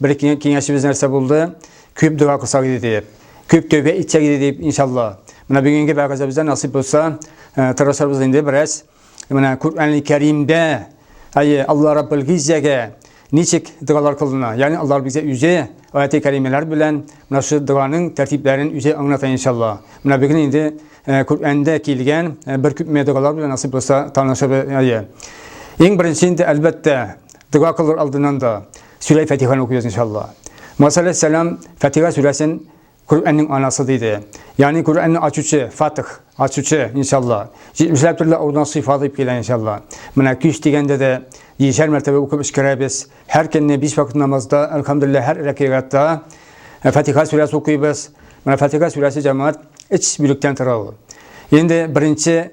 Бер киңәшебез нәрсә булды? Күп дога кылсак иде дип. Күп тәүбә итсәк иде дип, иншалла. Менә бүгенге вәгазебездә насыйп булса, э, тырышабыз инде бераз. Менә Куръәнли Кәримдә, әйе, Алла Раббул Гиззәгә ничек догалар кылына? Ягъни Алла Раббул Гиззә үзе аяты кәримәләр белән менә шу доганың тәртипләрен үзе аңлата иншалла. Менә бүген инде э, Куръәндә килгән э, бер күпме догалар белән насыйп булса танышабыз. Әйе. Иң беренче инде әлбәттә дога кылыр алдыннан да Сүрәй Фатиханы укыйбыз иншалла. Муса алейхиссалам Фатиха сүрәсен Коръәннең анасы диде. Ягъни Коръәнне ачучы, Фатих, ачучы иншалла. Җитмешләп төрле аудан сыйфаты дип килә иншалла. Менә кич дигәндә дә җишәр мәртәбә укып эшкәрәбез. Һәр көнне биш вакыт намазда, алхамдулилла, һәр рәкыйгатта э, Фатиха сүрәсе укыйбыз. Менә Фатиха сүрәсе җәмәгать эч бүлектән тора ул. Инде беренче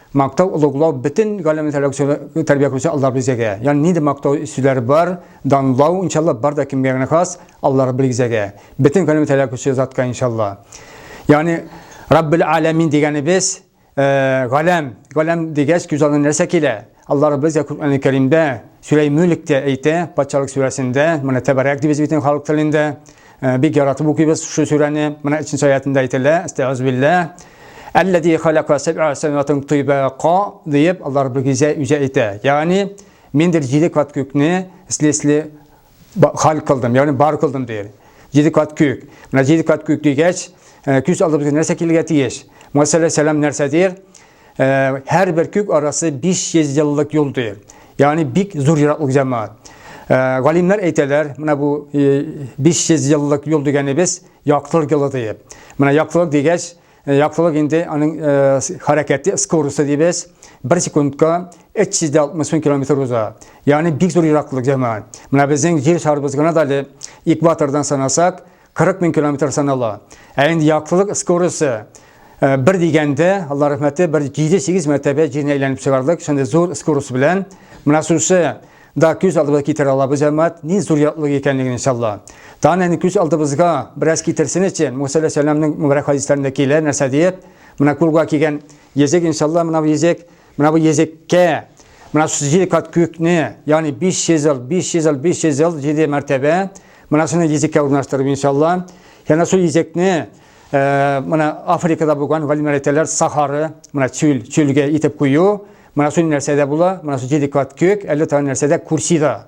Мактау, олуглау бөтен галәмне тәрбия кылучы Аллаһ Бизәгә. Ягъни нинди мактау сүзләре бар, данлау, иншалла, бар да кемгә генә хас, Аллаһ Раббел Гизәгә. Бөтен галәмне тәрбия кылучы затка иншалла. Ягъни Раббел Аләмин дигәнебез, галәм, галәм дигәч күз алдына нәрсә килә? Аллаһ Раббел Гизә Коръән Кәримдә, Сүрәй Мөлктә әйтә, патшалык сүрәсендә, моны тәбәрәк дип без бит халык телендә. Э, бик яратып укыйбыз шул сүрәне. Менә 3 нче аятында әйтелә, Әстәгъүзбилләһ. Әлләзи халака сабъа самаватын тыйбака дип Аллаһ Раббыгыза үзе әйтә. Ягъни мин дир җиде кат күкне ислесле хал кылдым, ягъни бар кылдым дир. Җиде кат күк. Менә җиде кат күк дигәч, э, күз алдыбызга нәрсә килергә тиеш? Мәсәлән, сәлам нәрсә дир? Ә, һәрбер күк арасы 500 еллык юл ди. Ягъни бик зур ераклык җәмәгать. Ә, галимнәр әйтәләр, менә бу 500 еллык юл дигәнебез яктылык юлы диеп. Менә яктылык дигәч, яктылык инде аның хәрәкәте скоросты дибез. Бер секундка 360 мең километр уза. Ягъни бик зур ераклык җәмәгать. Менә безнең җир шарыбыз гына да әле экватордан санасак, 40 мең километр санала. Ә инде яктылык скорысы э, бер дигәндә, Алла рәхмәте, бер 7-8 мәртәбә җирне әйләнеп чыгардык. Шундый зур скорость белән менә шушы да күз алдыбызга китерә алабыз әммәт, ни зур ятлык икәнлеген иншалла. Тагын әни күз алдыбызга бераз китерсен өчен, Муса алейһиссәламның мөбарәк хадисләрендә килә, нәрсә диеп, менә кулга кигән езек иншалла, менә бу езек Менә бу езеккә, менә шушы җиде кат күкне, ягъни 500 ел, 500 ел, 500 ел, җиде мәртәбә, менә шуны езеккә урнаштырып, иншалла. Янә шул езекне, э, менә Африкада булган галимнәр әйтәләр, Сахары, менә чүл, чүлгә итеп кую, менә шул нәрсәдә була, менә шул җиде кат күк, әллә тагын нәрсәдә, курсида.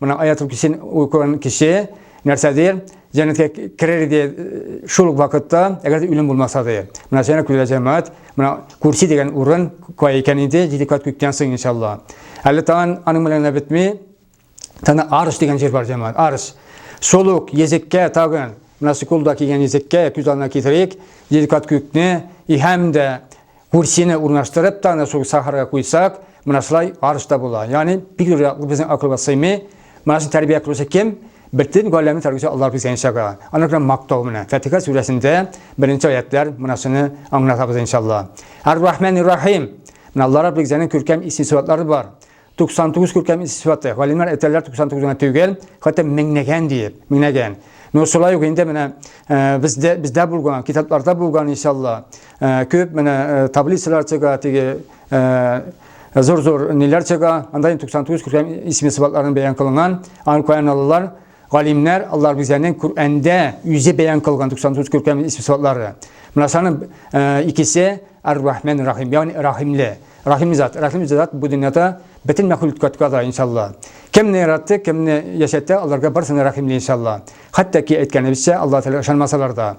Моның аятул кисен укыган кеше нәрсәдер җәннәткә керер иде э, шул ук вакытта, әгәр дә үлем булмаса да. Менә сәнә күлә җәмәгать, менә курси дигән урын кая икән инде, җиде кат күктән соң иншалла. Әле тагын аның белән генә бетми. Тана арыш дигән җир бар җәмәгать. Арыш. Шул ук языкка тагын насыкулда кигән языкка күз алдына китерик. Җиде кат күкне и һәм дә Курсины урнаштырып та, аны шул сахарга куйсак, менә шулай арыш та була. Ягъни, бик зур яклы безнең акылга сыймый. Менә шуны тәрбия кылучы кем? Бөтен галәмне тәрбияче Аллаһ безгә иншага. Аны гына мактау менә. Фатиха сүрәсендә беренче аятлар менә шуны аңлатабыз иншалла. Ар-Рахман-Рахим. Менә Аллаһ Раббигызның күркәм исем-сыйфатлары бар. 99 күркәм сыйфаты. Галимнәр әйтәләр 99 гына түгел, хәтта меңнәгән диеп, меңнәгән. Но шулай ук инде менә э, бездә бездә булган, китапларда булган иншалла, э, күп менә э, таблицалар чыга, теге зур-зур ниләр чыга, анда 99 күркәм исми сыйфатларын бәян кылынган, анканаллар Галимнәр Аллаһ Гүзәнең Күрәндә үзе бәян кылган 99 күркәм исем-сыфатлары. Менә шуның э, икесе Ар-Рахман Рахим, ягъни Рахимле. Рахим зат, Рахим зат бу дөньяда бөтен мәхлукатка да иншалла. Кемне яратты, кемне яшәтте, аларга барсына рахимле иншалла. Хәтта ки әйткәнебезчә, Аллаһ Тәгалә ышанмасалар да.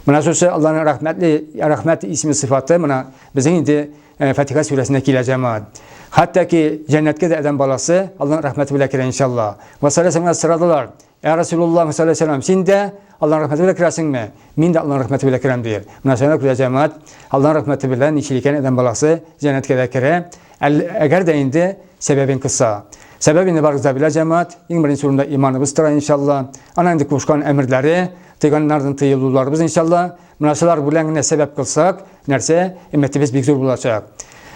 Менә шушы Аллаһның рәхмәтле, рәхмәт исеме сыйфаты менә безнең инде Э, Фатиха сүрәсенә килә җәмаат. Хәтта ки җәннәткә дә адәм баласы Аллаһның рәхмәте белән керә иншалла. Ва саллаллаһу сырадылар. Ә Расулуллаһ саллаллаһу алейһи син дә Аллаһның рәхмәте белән керәсеңме? Мин дә Аллаһның рәхмәте белән керәм дияр. Менә шуңа күрә җәмаат Аллаһның рәхмәте белән ничек икән адәм баласы җәннәткә дә керә. Әгәр дә инде сәбәбен кыса. Сәбәбе инде барыгыз да белә җәмаат. Иң беренче урында иманыбыз тора иншалла. Ана инде кушкан әмерләре, тыйганнардан тыелуларыбыз иншалла. Менә шулар белән генә сәбәп кылсак, нәрсә? Өмәтебез бик зур булачак.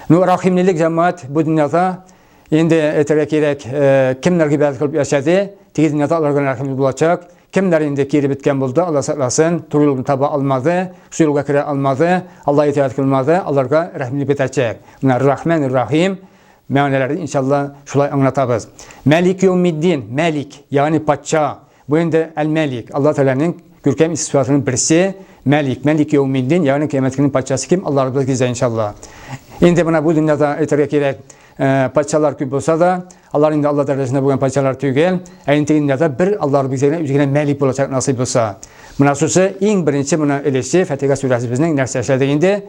Ну, рәхимлелек җәмәгать бу дөньяда инде әйтергә кирәк, э, кемнәр гыйбадәт кылып яшәде, теге дөньяда алар гына рәхимле булачак. Кемнәр инде кире беткән булды, Алла сакласын, туры юлны таба алмады, шул юлга керә алмады, Алла итәгать кылмады, аларга рәхимлек бетәчәк. Менә Рахман, Рахим, мәгънәләрен иншалла шулай аңлатабыз. Мәлик Юмиддин, Мәлик, ягъни патша. Бу инде Әл-Мәлик, Алла Тәгаләнең күркәм исем-сыйфатларының берсе, Мәлик, Мәлик яумиддин, ягъни кыямәт көненең патшасы кем? Алларыбыз гизә иншалла. Инде менә бу дөньяда әйтергә кирәк, э, патшалар күп булса да, алар инде Алла дәрәҗәсендә булган патшалар түгел, ә инде дөньяда бер Алларыбыз генә үзе генә Мәлик булачак насыйп булса. Менә шусы иң беренче менә өлеше Фатиха сүрәсе безнең нәрсә эшләдек инде?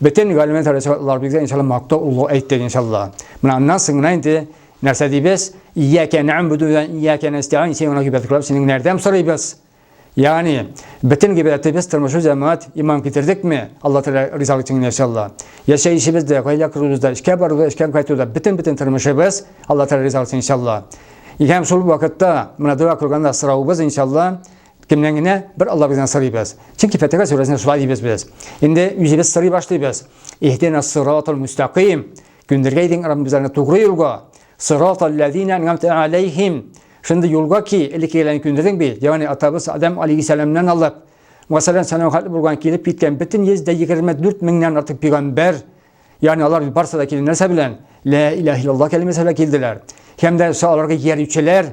Бөтен галимнәр дәрәҗәсендә Алларыбыз генә иншалла мактау улы әйттек иншалла. Менә аннан соң гына инде Нәрсә дибез? Ияка нәгъбуду ва ияка нәстәгыйн син гына гыйбадәт кылабыз, синең нәрдәм сорыйбыз? Ягъни, бөтен гыйбадәтебез тормышы җәмәгать иман китердекме? Алла Тәгалә ризалык өчен яшәлла. Яшәешебез дә, гаилә корыбыз да, эшкә бару да, эшкә кайту да, бөтен-бөтен тормышыбыз Алла Тәгалә ризалык өчен яшәлла. Һәм шул вакытта менә дога кылганда сорауыбыз иншалла кемнән генә бер Алла бездән сорыйбыз. Чөнки Фатиха сүрәсендә шулай дибез без. Инде үзебез сорый башлыйбыз. Иһдина сиратал мустаким. Күндергәй дин Раббым безләрне тугры юлга, сырат алләзина ән'амта алейхим. Шундый юлга ки, элеккегеләрне күндердең бит, ягъни атабыз Адам алейхиссәламнан алып, мәсәлән, сәламәт булган килеп киткән бөтен 124 меңнән артык пигамбәр, ягъни алар барсы да килгән нәрсә белән? Лә илаһ иллаллаһ кәлимәсе белән килделәр. Һәм дә аларга иярүчеләр,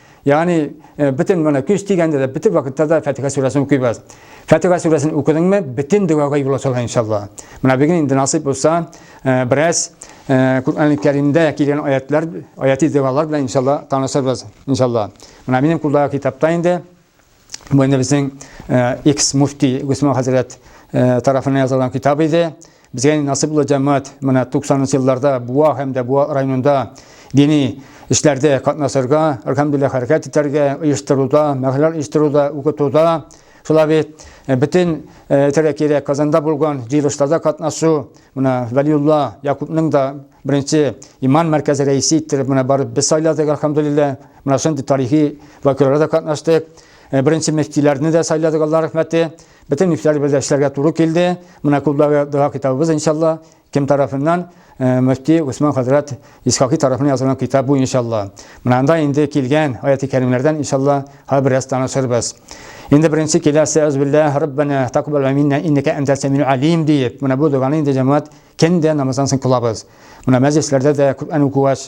Ягъни э, бөтен менә көч дигәндә дә бөтен вакытта да Фатиха сүрәсен укыйбыз. Фатиха сүрәсен укыдыңмы, бөтен дөгәгә юл ачыла иншалла. Менә бүген инде насыйп булса, э, бераз э, Куръан Кәримдә килгән аятлар, аяти дәвалар белән иншалла танышырбыз иншалла. Менә минем кулдагы китапта инде Бу инде безнең X муфти Госман хәзрәт тарафына язылган китап иде. Безгә насыйп булды җәмәгать менә 90 елларда Буа һәм дә Буа районында дини эшләрдә катнашырга, альхамдулилла хәрәкәт итәргә, оештыруда, мәхәлләр оештыруда, укытуда, шулай бит бөтен тирә-тирә Казанда булган җыелышларда катнашу, менә Вәлиулла Якупның да беренче иман мәркәзе рәисе иттереп менә барып без сайладык, альхамдулилла. Менә шундый тарихи вакыйгаларда да катнаштык. Э, беренче мөфтиләрне дә сайладык, Алла рәхмәте. Бөтен мөфтиләр бер эшләргә туры килде. Менә клубдагы дога китабыбыз иншалла кем тарафыннан? Э, мөфти Усман хәзрәт Исхакый тарафыннан язылган китап бу иншалла. Менә анда инде килгән аяти кәримнәрдән иншалла һәр бераз танышырбыз. Инде беренче киләсе әзбилла Раббана тәкъбәл миннә иннәкә әнтә сәмил алим диеп, менә бу доганы инде җәмәгать кендә намаздан соң кылабыз. Менә мәҗлесләрдә дә Коръән укугач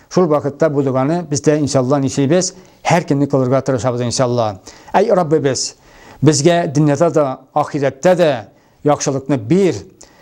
Шул вакытта бу доганы без дә иншалла нишлибез, һәр көнне кылырга тырышабыз иншалла. Әй Раббыбыз, безгә дөньяда да, ахирәттә дә яхшылыкны бир,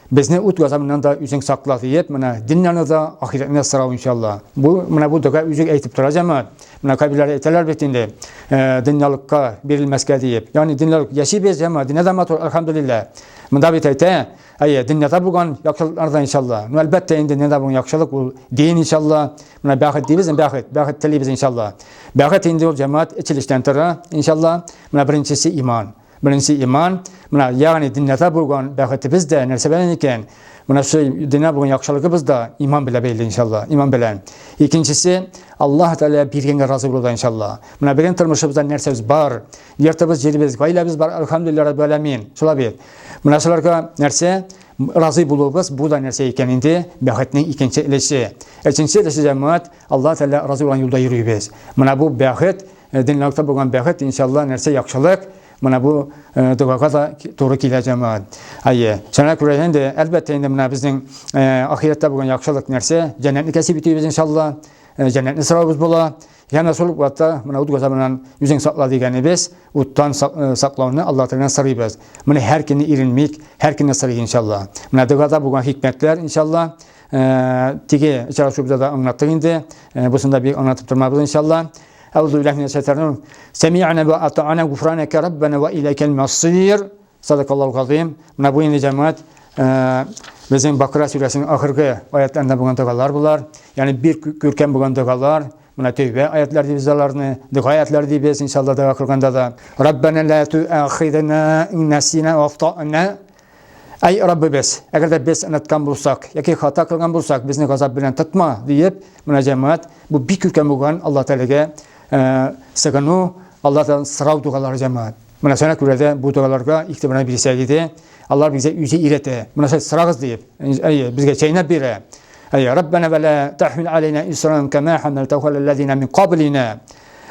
безне ут газабыннан да үзең сакла диеп, менә дөньяны да, ахирәтне дә сорау иншалла. Бу менә бу дога үзе әйтеп тора җәмәгать. Менә кабиләр әйтәләр бит инде, э, дөньялыкка бирелмәскә диеп. Ягъни дөньялык яшибез, җәмәгать, дөньяда матур, альхамдулилла. Монда бит әйтә, Әйе, дөньяда булган яхшылыклар да иншалла. Ну, әлбәттә, инде дөньяда булган яхшылык ул дин иншалла. Менә бәхет дибез, бәхет, бәхет телибез иншалла. Бәхет инде ул җәмәгать эчилештән тора, иншалла. Менә беренчесе иман. Беренче иман. Менә ягъни дөньяда булган бәхетебез дә нәрсә белән икән? Менә шул дөнья булган яхшылыгыбыз да иман белән бәйле иншалла, иман белән. Икенчесе, Аллаһ Тәгалә биргәнгә разый булуда иншалла. Менә безнең тормышыбызда нәрсәбез бар? Йортыбыз, җиребез, гаиләбез бар, әлхәмдулилләһ раббил галәмин. Шулай бит. Менә шуларга нәрсә разый булуыбыз бу да нәрсә икән инде бәхетнең икенче өлеше. Өченче өлеше җәмәгать Аллаһ Тәгалә разый булган юлда йөрибез. Менә бу бәхет, э, дөньялыкта булган бәхет, иншалла, нәрсә яхшылык, менә бу э, догага да туры килә җәмәгать. Әйе, шуңа күрә инде әлбәттә инде менә безнең э, ахирәттә булган яхшылык нәрсә? Җәннәтне кәсеп итүебез иншалла, җәннәтне сорауыбыз була. Яна шул вакытта менә ут газабыннан үзең сакла дигәнебез, уттан э, саклауны Алла Тәгаләдән сорыйбыз. Менә һәр көнне иренмик, һәр көнне сорый иншалла. Менә догада булган хикмәтләр иншалла. Э, теге очрашуыбызда да аңлаттык инде. Э, Бусында бик аңлатып тормабыз иншалла. Әүзу билләһи минәш шайтанир. Сәми'ана ва ата'ана гуфранәкә раббана ва иләкәл масир. Садакаллаһу газыйм. Менә бу инде җәмәгать безнең Бакра сүрәсенең ахыргы аятларында булган догалар булар. Ягъни бир күркәм булган догалар. Менә тәүбә аятлар дибез аларны, дога аятлар дибез, иншалла дога кылганда да. Раббана ла туахидна ин насина ва ахтана. Әй Раббыбыз, әгәр дә без оныткан булсак, яки хата кылган булсак, безне газап белән тотма, диеп, менә җәмәгать бу бик күркәм булган Алла Тәгаләгә сыгыну, Аллаһтан сорау дугалары җәмәгать. Менә сәнә күрә дә бу догаларга игътибарны бирсәк иде, Аллаһ безгә үзе өйрәтә. Менә сез сорагыз дип, әйе, безгә чәйнәп бирә. Әйе, Раббана ва ла тахмил алейна исран кама хамалтаху аллазина мин каблина.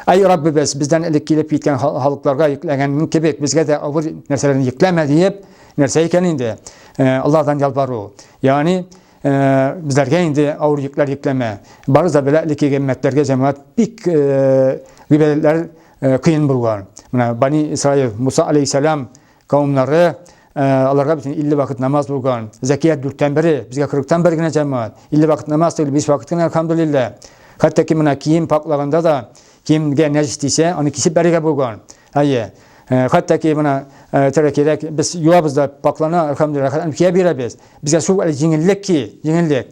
Әй Раббыбыз, бездән элек килеп киткән халыкларга йөкләгән кебек, безгә дә авыр нәрсәләрне йөкләмә диеп, нәрсә икән инде? Э, Аллаһдан ялбару. Ягъни, э, безләргә инде авыр йөкләр йөкләмә. Барыбыз да белә, элеккеге өммәтләргә җәмәгать бик э, гыйбадәтләр Э, кыен булган мына бани исраил муса алейхисалам кавымнары э, аларга бит илле вакыт намаз булган зәкият дүрттән бере безгә кырыктан бер генә җәмәгать илле вакыт намаз түгел биш вакыт кенә алхамдулилла хәтта ки менә кием паклаганда да киемгә нәҗес тисә аны кисеп бәрергә булган әйе э, хәтта ки менә тәрә кирәк без юабыз да паклана алхамдулилла кия бирәбез безгә шул җиңеллек ки җиңеллек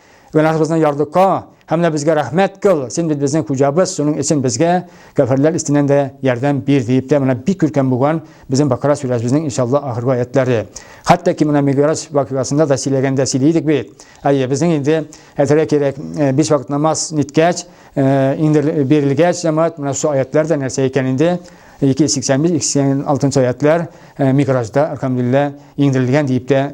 Гөнаһыбызны ярдыка һәм менә безгә рәхмәт кыл, син бит безнең хуҗабыз, шуның өчен безгә кәферләр истеннән дә ярдәм бир дип тә менә бик күркәм булган безнең Бакара сүрәсебезнең иншалла ахыргы аятлары. Хәтта ки менә Миграҗ вакыйгасында да сөйләгәндә сөйли идек бит. Әйе, безнең инде әйтергә кирәк, э, биш вакыт намаз ниткәч, э, инде бирелгәч җәмәгать менә шул аятлар да нәрсә икән инде 285-286 аятлар э, Миграҗда, алхамдулилла, иңдерелгән дип тә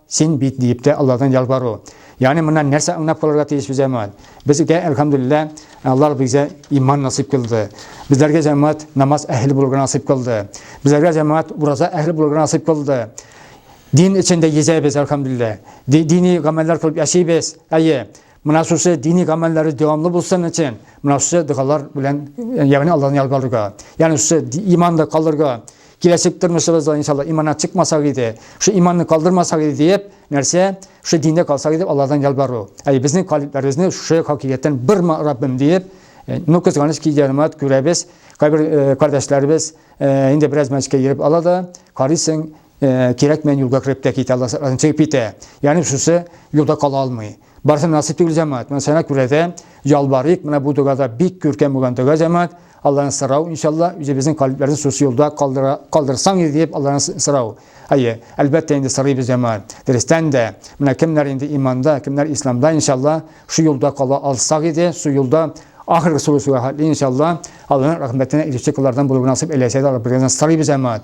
Син бит, диеп тә Алладан ялвару. Ягъни моннан нәрсә аңнап калырга тиеш бу җәмәгать? Безгә, әлхәмдүлилләһ, Аллаһ бизә иман насыйп кылды. Безләргә җәмәгать намаз әһеле булырга насыйп кылды. Безләргә җәмәгать ураза әһеле булырга насыйп кылды. Дин эчендә йөзәбез, әлхәмдүлилләһ. Ди, дини гамәлләр кылып яшибез. Әйе. Менә шушы дини гамәлләре дәвамлы булсын өчен, менә шушы догалар белән, ягъни Аллаһны ялгарырга. Ягъни шушы иманда калырга, киләчәк тормышыбызда иншалла иманнан чыкмасак иде, шушы иманны калдырмасак иде диеп, нәрсә? Шушы диндә калсак иде, Аллаһдан ялгару. Әй, безнең калибләребезне шушы хакыйкатьтән бер Раббым диеп, э, ну кызганыч ки җәмәгать күрәбез, кайбер э, кардәшләребез э, инде бераз мәчкә йөреп ала да, карыйсың, Э, кирәк мен юлга кереп тә китә аласырдан чыгып китә яғни шусы юлда кала алмый барысы насыйп түгел жамаат мына сәнә күрә дә ялбарыйк мына бу догада бик күркәм булган дога жамаат алладан сорау иншалла үзебезнең калебләрне шушы юлда калдыра калдырсаң иде дип алладан сорау әйе әлбәттә инде сорыйбыз жамаат дөрестән дә менә кемнәр инде иманда кемнәр исламда иншалла шу юлда кала алсак иде шу юлда ахыргы сулышуга хәтле иншалла алланың рәхмәтенә ирешчек алардан булуы насыйп әләсә дә алып берген сорыйбыз жамаат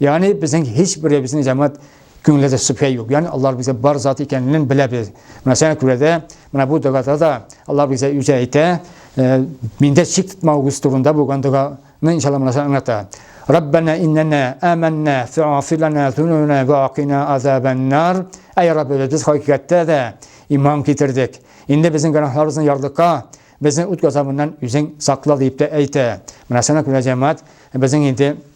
Ягъни безнең һичберебезнең җәмәгать күңелендә шөбһә юк. Ягъни Аллаһ безгә бар зат икәнен беләбез. Менә шуңа күрә дә менә бу догада да Аллаһ безгә үзе әйтә, э, миндә шик тотмавыгыз турында булган доганы иншалла менә шуны аңлата. Раббана иннана аманна фа'фир лана зунубана ва акина азабаннар. Әй Раббыбыз, без хакыйкатьтә дә иман китердек. Инде безнең гөнаһларыбызны ярдыкка безнең үт газабыннан үзең сакла дип тә әйтә. Менә шуңа күрә җәмәгать безнең инде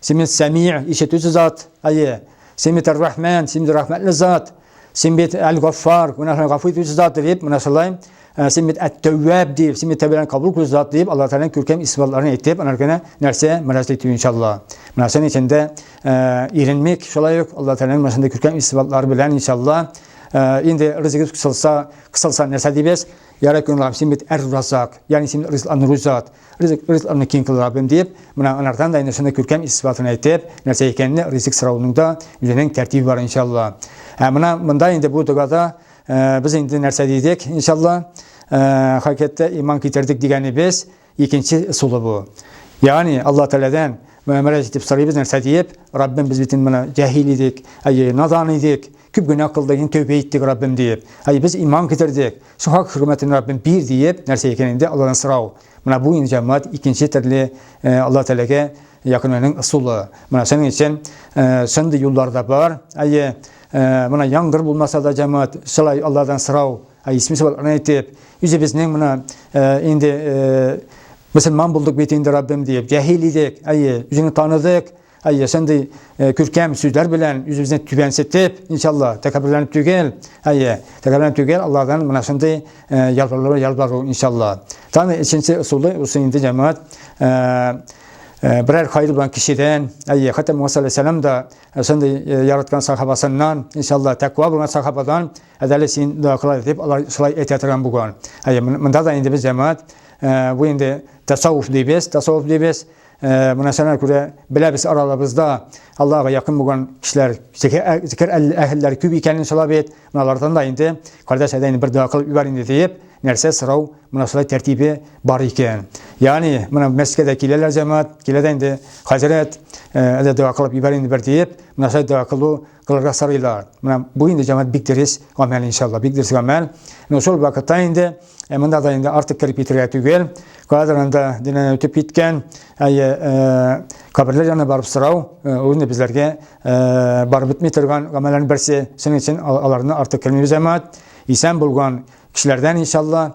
Син бит Сәми, ишетүче зат. Әйе. Син бит Ар-Рахман, син бит рәхмәтле зат. Син бит Әл-Гаффар, гүнәһләрне гафу итүче зат дип, менә шулай. Ә, син бит Әт-Тәвваб дип, син бит тәүбәләрне кабул итүче зат дип, Аллаһ Тәгаләнең күркәм исемләрен әйтеп, алар гына нәрсә мөрәҗәгать итү иншалла. Менә шуның өчен дә ә, иренмик, шулай ук Аллаһ Тәгаләнең менә шундый күркәм исемләр белән иншалла. Ә, инде ризыгыбыз кысылса, кысылса нәрсә дибез? Ярай, күңелем, син бит Әр-Разак, ягъни син ризыкландыручы зат. Ризык, ризыкларны киң кыл, Раббым, дип, менә анардан да инде шуны күркәм ис-сыйфатын әйтеп, нәрсә икәнне ризык сорауның да үзенең тәртибе бар, иншалла. Ә менә монда инде бу догада без инде нәрсә дидек, иншалла, хакыйкатьтә иман китердек дигәнебез икенче ысулы бу. Ягъни Алла Тәгаләдән мөрәҗәгать итеп сорыйбыз нәрсә диеп, Раббым, без бит инде менә җәһил идек, әйе, надан идек, күп генә кылдык, инде тәүбә иттек, Раббым, диеп. Әйе, без иман китердек. Сухак хөрмәтен Раббим бир диеп, нәрсә икән инде Аллаһтан сорау. Менә бу инде җәмәгать икенче төрле э, Аллаһ Тәгаләгә якынлануның ысулы. Менә шуның өчен э, шундый юллар да бар. Әйе, э, менә яңгыр булмаса да җәмәгать шулай Аллаһтан сорау, ә исми сыйфатларны әйтеп, үзебезнең менә инде мөселман булдык бит инде Раббим диеп, җәһил идек, әйе, үзеңне таныдык, Әйе, шундый э, күркәм сүзләр белән үзебезне түбәнсетеп, иншалла, тәкәбберләнеп түгел, әйе, тәкәбберләнеп түгел, Аллаһдан менә шундый э, ялвару, ялвару, иншалла. Таны өченче ысулы, усы инде җәмәгать э, берәр хайыр белән кешедән, әйе, хәтта Муса алейһиссалам да шундый яраткан сахабасыннан, иншалла, тәква булган сахабадан, әдәле син дә кылай дип, алар шулай әйтә торган булган. Әйе, монда да инде без җәмәгать, бу инде тасаввуф дибез, тасаввуф дибез. Э, Мына сәнә күрә беләбез аралабызда Аллаһыга якын булган кешеләр, зикер э, әһелләр күп икәнен шулай бит. Мыналардан да инде кардәш әдәйне бер дога кылып ибәр инде диеп, нәрсә сорау, мына шулай тәртибе бар икән. Ягъни, мына мәскәдә киләләр җәмәгать, киләдә инде хәзрәт, әле дога кылып ибәр инде бер диеп, мына шулай дога кылу кылырга сорыйлар. Менә бу инде җәмәгать бик дөрес гамәл иншалла, бик дөрес гамәл. Ну шул вакытта инде э, монда да инде артык кереп китергә түгел. Кадр инде динән үтеп киткән, әйе, э, каберләр янына барып сорау, э, ул инде безләргә барып бетми торган гамәлләрнең берсе. Шуның өчен аларны артык кермибез җәмәгать. Исән булган кешеләрдән иншалла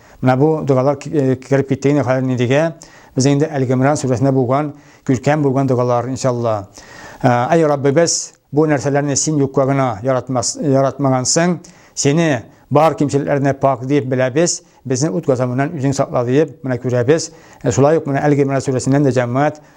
Менә бу догалар э, кереп китте инде хәзер нидегә. Без инде Әл-Гимран сүрәсендә булган, күркәм булган догалар иншалла. Э, Ай Раббыбыз, бу нәрсәләрне син юкка гына яратмас, яратмагансың. Сине бар кимчелекләрне пак дип беләбез. Безне ут газабыннан үзең сакла дип, менә күрәбез. Э, шулай ук менә Әл-Гимран сүрәсеннән дә җәмәгать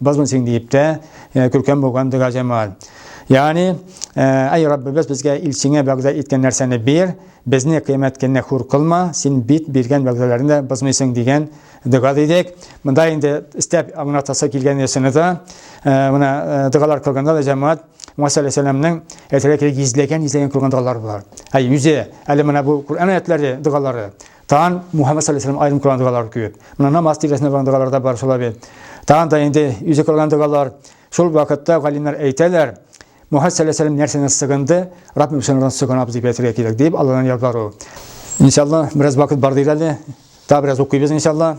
Бозмын син диеп тә, күркәм булган дога җамал. Ягъни, әй Раббыбыз безгә илчеңә вәгъдә иткән нәрсәне бир, безне кыямәт көненә хур кылма, син бит биргән вәгъдәләрне бозмыйсың дигән дога дидек. Монда инде истәп аңлатасы килгән ясыны да, менә догалар кылганда да җәмәгать Муса алейхиссаламның әйтелгән гизләгән-гизләгән күргән догалары бар. Әй үзе, әле менә бу Куръан аятләре догалары Тагын Мухаммәд саллаллаһу алейһи ва сәлләм аерым кылган догалар күп. Менә намаз тирәсендә булган догалар да бар шулай бит. Тагын да инде үзе кылган догалар. Шул вакытта галимнәр әйтәләр, Мухаммәд саллаллаһу алейһи ва сәлләм нәрсәдән сыгынды? Раббим син Аллаһыдан сыгынабыз дип әйтергә кирәк, дип Аллаһыдан ялвару. Иншалла, бераз вакыт бар диелә әле. Тагы бераз укыйбыз иншалла.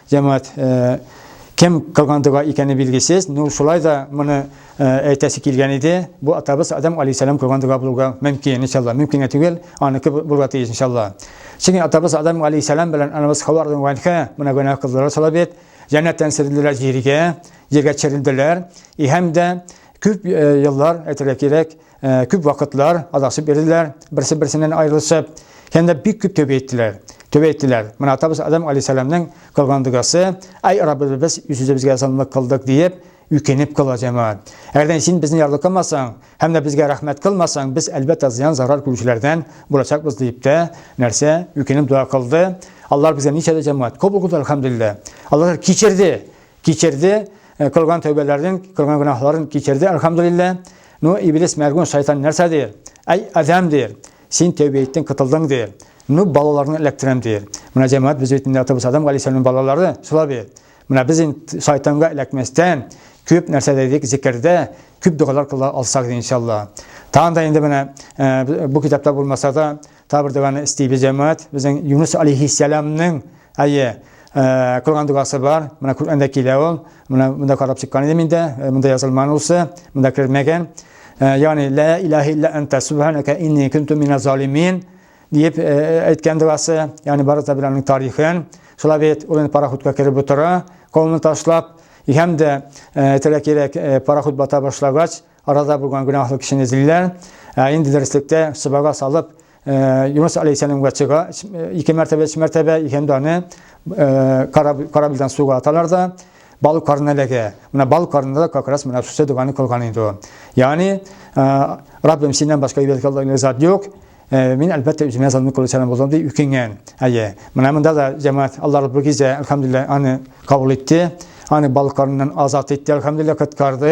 Җәмәгать кем кылган дога икәне билгесез, ну шулай да моны әйтәсе килгән иде. Бу атабыз Адам алейһиссалам кылган дога булуга мөмкин, иншалла. Мөмкин түгел, аныкы булырга тиеш, иншалла. Чөнки атабыз Адам алейһиссалам белән анабыз Хава радиянхә менә гөнаһ кылдылар шулай бит. Җәннәттән сөрелделәр җиргә, җиргә төшерелделәр. И һәм дә күп еллар әйтергә кирәк, Ә, күп вакытлар адашып йөрделәр, берсе-берсеннән аерылышып, һәм дә бик күп тәүбә иттеләр. Тәүбә иттеләр. Менә атабыз Адам алейһиссәламнең кылган догасы, "Ай Раббыбыз, без үз-үзебезгә залымлык кылдык", диеп, үкенеп кала җәмәгать. Әгәр дә син безне ярдыкламасаң һәм дә безгә рәхмәт кылмасаң, без әлбәттә зыян зарар күрүчеләрдән булачакбыз, диеп тә, нәрсә, үкенеп дога кылды. Аллаһ безгә ничә дә җәмәгать кабул кылды, әлхәмдүлилләһ. Аллаһ кичерде. Кичерде, э, кылган тәүбәләрен, кылган гөнаһларын кичерде, әлхәмдулиллә. Ну, иблис мәгун шайтан нәрсә дир? Әй, адәм дир. Син тәүбә иттең, кытылдың дир. Ну, балаларны эләктерәм дир. Менә җәмәгать без бит инде атабыз Адам галәйһиссәламнең балалары, шулай бит. Менә без инде шайтанга эләкмәстән күп нәрсә дидек зикердә, күп догалар кыла алсак иншалла. Тагын да инде менә э, бу китапта булмаса да Табыр доганы истибез җәмәгать. Безнең Юнус алейхиссәламның әйе э, кылган догасы бар. Менә Коръәндә килә ул. Менә монда карап чыккан идем инде. Э, монда язылман улсы, монда кермәгән. Э, ягъни ла илаһа илля анта субханака инни кунту мина залимин дип әйткән догасы. Ягъни бары да белән тарихын. Шулай бит ул пароходка кереп утыра, колны ташлап, һәм дә тирәк-тирәк пароход бата башлагач, Арада булган гөнаһлы кешене эзлиләр. Ә инде дөреслектә сыбага салып, э, Юнус алейхиссәламгә чыга э, ике мәртәбә, өч мәртәбә һәм аны э, корабльдан суга аталар да бал карнына эләгә. Менә бал карнында да как раз менә шушы доганы кылган инде ул. Ягъни, Раббим, синнән башка ибәдәткә лаек зат юк. Э, мин әлбәттә үземә залны кылучан булдым ди үкенгән әйе менә монда да җәмәгать алла раббы гизә әлхәмдулилла аны кабул итте аны балкарыннан азат итте әлхәмдулилла коткарды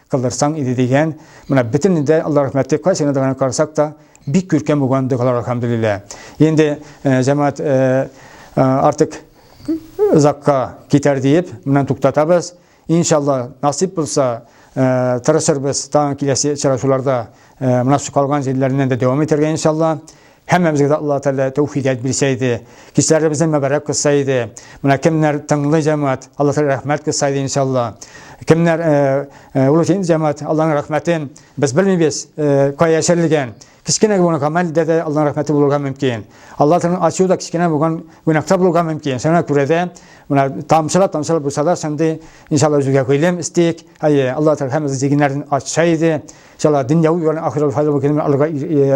кылдырсаң иде дигән, менә бөтен дә Алла рәхмәте кайсы гына дигән карасак та бик күркәм булган догалар алхамдулилла. Инде э, җәмәгать э, э, артык озакка китәр диеп, менә туктатабыз. Иншалла, насип булса, тырышырбыз тагын киләсе очрашуларда менә калган җирләреннән дә дәвам итәргә иншалла. Һәммәмезгә дә Алла Тәгалә тәүфигать бирсә иде, кичләребезне мәбәрәк кылса иде. Менә кемнәр тыңлый җәмәгать, Алла Тәгалә рәхмәт кылса иде иншалла. Кемнәр урыкин җәмәгать, Алланың рәхмәтен без белмибез, кая яшерелгән. Кечкенә генә гамәл дә дә Алланың рәхмәте булырга мөмкин. Алла Тәгаләнең ачуы да кечкенә булган гөнаһта булырга мөмкин. Шуңа күрә дә менә тамчылап тамчылап булса да шундый иншалла үзебезгә гыйлем истик. Әйе, Алла Тәгалә һәммәбез зигеннәрен ачса иде. Шала дөньяви юлдан ахирәт файдалы көнне алга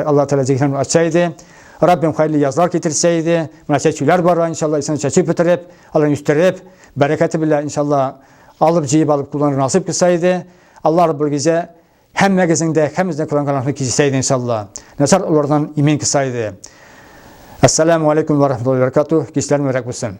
Аллаһ Тәгалә җиһан ача иде. Раббим хәерле язлар китерсә иде. Менә чәчүләр бар, иншалла, исән чәчү бетереп, аларны үстереп, бәрәкәте белән иншалла алып җыеп алып кулланыр насыйп кылса иде. Аллаһ Раббул гизә һәммәгезнең дә һәммәгезнең кылган гөнаһын кичерсә иде иншалла. Насар улардан имин кылса иде. Ассаламу алейкум ва рахматуллаһи ва баракатуһ. Кичләрне рәк булсын.